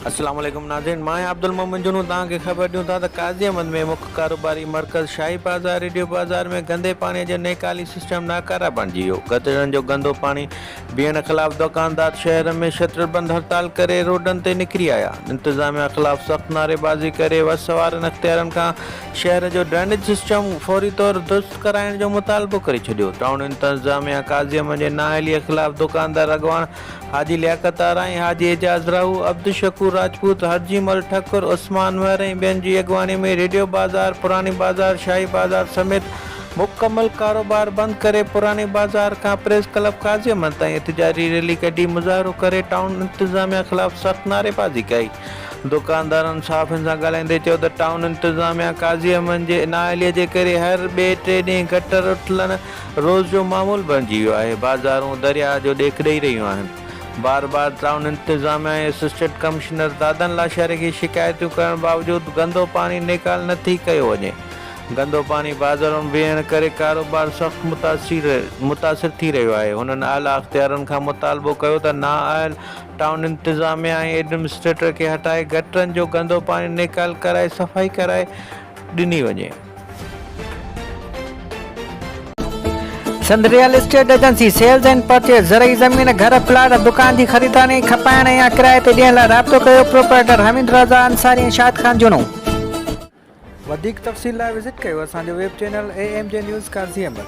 السلام عليڪم ناظرين مان آهيان عبدالمومن جنون توهان کي خبر ڏيون ٿا ته قاضي احمد ۾ مک ڪاروباري مرڪز شاهي بازار ريڊيو بازار ۾ گندي پاڻي جو نيڪالي سسٽم ناڪاره بڻجي ويو گٽرن جو گندو پاڻي بيهڻ خلاف دوڪاندار شهر ۾ شٽر بند هڙتال ڪري روڊن تي نڪري آيا انتظاميا خلاف سخت نعري بازي ڪري وس وارن اختيارن کان شهر جو ڊرينيج سسٽم فوري طور درست ڪرائڻ جو مطالبو ڪري ڇڏيو ٽائون انتظاميا قاضي احمد جي نااهلي خلاف دوڪاندار اڳواڻ حاجي لياقت آرائين، حاجي اعجاز راهو، عبدالشڪور راجپوت، حرجي مل ٺڪر، عثمان مهر ۽ ٻين جي اڳواڻي ۾ ريڊيو بازار، پراڻي بازار، شاهي بازار سميت مڪمل ڪاروبار بند ڪري پراڻي بازار کان پريس ڪلب قاضيمل تائين احتجاجي ريلي ڪڍي مظاهرو ڪري ٽائون انتظاميا خلاف سخت نعريبازي ڪئي. دڪاندارن صحافين سان ڳالهائيندي چيو ته ٽائون انتظاميا قاضيمل جي نااهلي جي ڪري هر ٻئي ٽي ڏينهن گٽر اٽلڻ، روز جو معمول بڻجي ويو آهي، بازارون درياء جو ڏيک ڏئي رهيون آهن، بار بار ٽائون انتظاميه ۽ اسسٽنٽ ڪمشنر دادن لاشاري کي شڪايتون ڪرڻ باوجود گندو پاڻي نيڪال نه ٿي ڪيو وڃي، گندو پاڻي بازارن ۾ ويهڻ ڪري ڪاروبار سخت متاثر متاثر ٿي رهيو آهي، هنن اعليٰ اختيارن کان مطالبو ڪيو ته نااهل ٽائون انتظاميه ۽ ايڊمنسٽريٽر کي هٽائي گٽرن جو گندو پاڻي نيڪال ڪرائي صفائي ڪرائي ڏني وڃي. Sindh real estate agency sales and purchase زرعي زمين گهر پلاٽ ۽ دڪان جي خريدارين ۽ کپائڻ ۽ يا ڪرائي تي ڏيڻ لاء رابطو ڪيو پروپرائيٽر حميد رضا انصاري ۽ شاهد خان جنو وڌيڪ تفصيل لاء وزٽ ڪيو اسان جو web channel A M G news Qazi Ahmed.